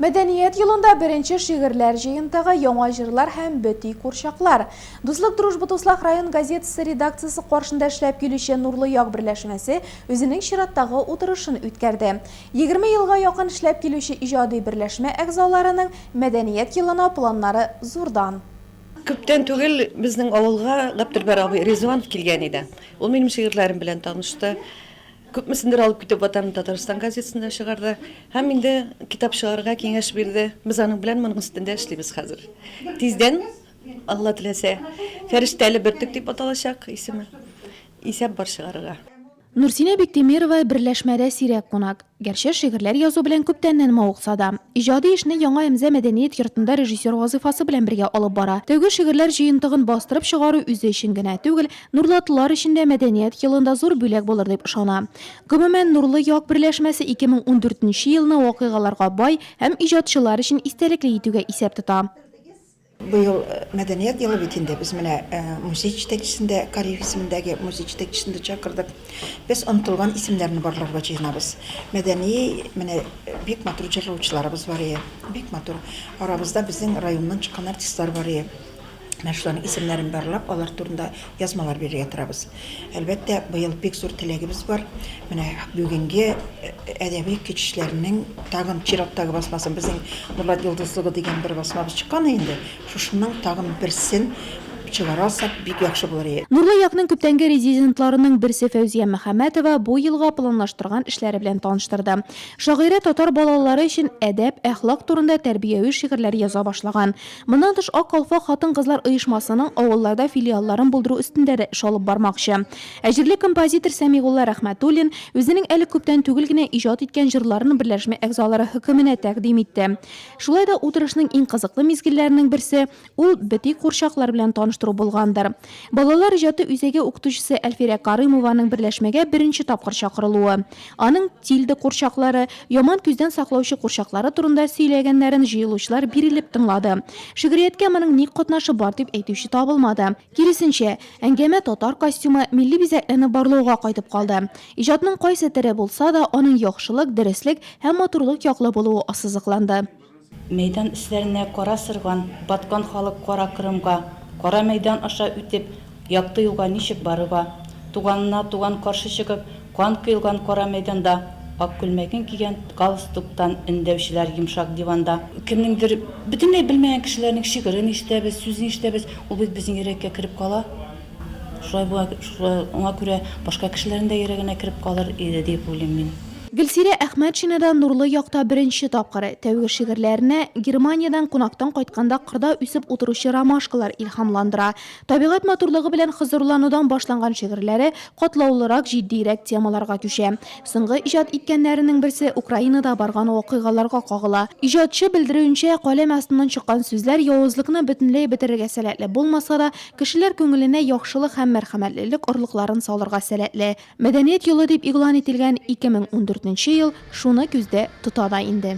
Мәдәният елында беренче шигырьләр җыентыгы, яңа җырлар һәм бөти курчаклар. Дуслык Дружба-Туслах район газетасы редакциясе каршында эшләп килүче Нурлы як берләшмәсе үзенең чираттагы утырышын үткәрде. Егерме елга якын эшләп килүче иҗади берләшмә әгъзаларының Мәдәният елына планнары зурдан. Күптән түгел безнең авылга Гаптелбар абый Ризуанов килгән иде. Ул минем шигырьләрем белән танышты. Күпмесендер алып китеп Ватан Татарстан газетасында чыгарды һәм инде китап чыгарырга киңәш бирде. Без аның белән моның өстендә эшлибез хәзер. Тиздән, Алла теләсә, Фәрештәле бөртек дип аталачак исеме. Исәп бар чыгарырга. Нурсинә Биктимирова берләшмәдә сирәк кунак. Гәрчә шигырьләр язу белән күптәннән мавыкса да. Иҗади эшне Яңа Әмзә мәдәният йортында режиссер вазыйфасы белән бергә алып бара. Тәүге шигырьләр җыентыгын бастырып чыгару үзе өчен генә түгел, Нурлатлылар өчен дә Мәдәният елында зур бүләк булыр дип ышана. Гомумән, Нурлы як берләшмәсе 2014 нче елны вакыйгаларга бай һәм иҗатчылар өчен истәлекле итүгә исәп тота. Быел Мәдәният елы бит инде, без менә музей җитәкчесен дә, Кариев исемендәге музей җитәкчесен дә чакырдык. Без онытылган исемнәрне барларга җыенабыз. Мәдәни, менә бик матур җырлаучыларыбыз бар ие, бик матур. Арабызда безнең районнан чыккан артистлар бар ие. Менә шуларның исемнәрен барлап, алар турында язмалар бирергә торабыз. Әлбәттә, быел бик зур теләгебез бар. Менә бүгенге э, әдәби кичешләрнең тагын чираттагы басмасын безнең Нурлат йолдызлыгы дигән бер басмабыз чыккан инде. Шушының тагын берсен чыгарасак, бик яхшы булыр иде. Нурлы якның күптәнге резидентларының берсе Фәүзия Мөхәммәтова бу елга планлаштырган эшләре белән таныштырды. Шагыйрә татар балалары өчен әдәп, әхлак турында тәрбияви шигырьләр яза башлаган. Моннан тыш, Ак калфак хатын-кызлар оешмасының авылларда филиалларын булдыру өстендә дә эш алып бармакчы. Ә җирле композитор Сәмигулла Рәхмәтуллин үзенең әле күптән түгел генә иҗат иткән җырларын берләшмә әгъзалары хөкеменә тәкъдим итте. Шулай да утырышның иң кызыклы мизгелләренең берсе, ул бөти курчаклар белән таныштыру булгандыр. Балалар иҗаты үзәге укытучысы Әлфирә Карыймованың берләшмәгә беренче тапкыр чакырылуы. Аның тильда курчаклары, яман күздән саклаучы курчаклары турында сөйләгәннәрен җыелучылар бирелеп тыңлады. Шигърияткә моның ник катнашы бар дип әйтүче табылмады. Киресенчә, әңгәмә татар костюмы, милли бизәкләрне барлауга кайтып калды. Иҗатның кайсы тере булса да, аның яхшылык, дөреслек һәм матурлык яклы булуы ассызыкланды. Мәйдан өсләренә кара сырган, баткан халык Кара Кырымга, Кара мәйдан аша үтеп, Якты юлга ничек барырга? Туганына туган каршы чыгып, Кан коелган кара мәйданда, Ак күлмәген кигән галстуктан Өндәүчеләр йомшак диванда. Кемнеңдер, бөтенләй белмәгән кешеләрнең шигырен ишетәбез, сүзен ишетәбез, ул бит безнең йөрәккә кереп кала. Шулай була, шуңа күрә башка кешеләрнең дә йөрәгенә кереп калыр иде дип уйлыйм мин. Гөлсирә Әхмәтшина да нурлы якта беренче тапкыр. Тәүге шигырьләренә Германиядән кунактан кайтканда кырда үсеп утыручы ромашкалар илһамландыра. Табигать матурлыгы белән хозурланудан башланган шигырьләре катлаулырак, җитдиерәк темаларга күчә. Соңгы иҗат иткәннәренең берсе Украинада барган вакыйгаларга кагыла. Иҗатчы белдерүенчә, каләм астыннан чыккан сүзләр явызлыкны бөтенләй бетерергә сәләтле булмаса да, Кешеләр күңеленә яхшылык һәм мәрхәмәтлелек орлыкларын салырга сәләтле Мәдәният елы дип игълан ителгән 2014 нче ел шуны күздә тота да инде.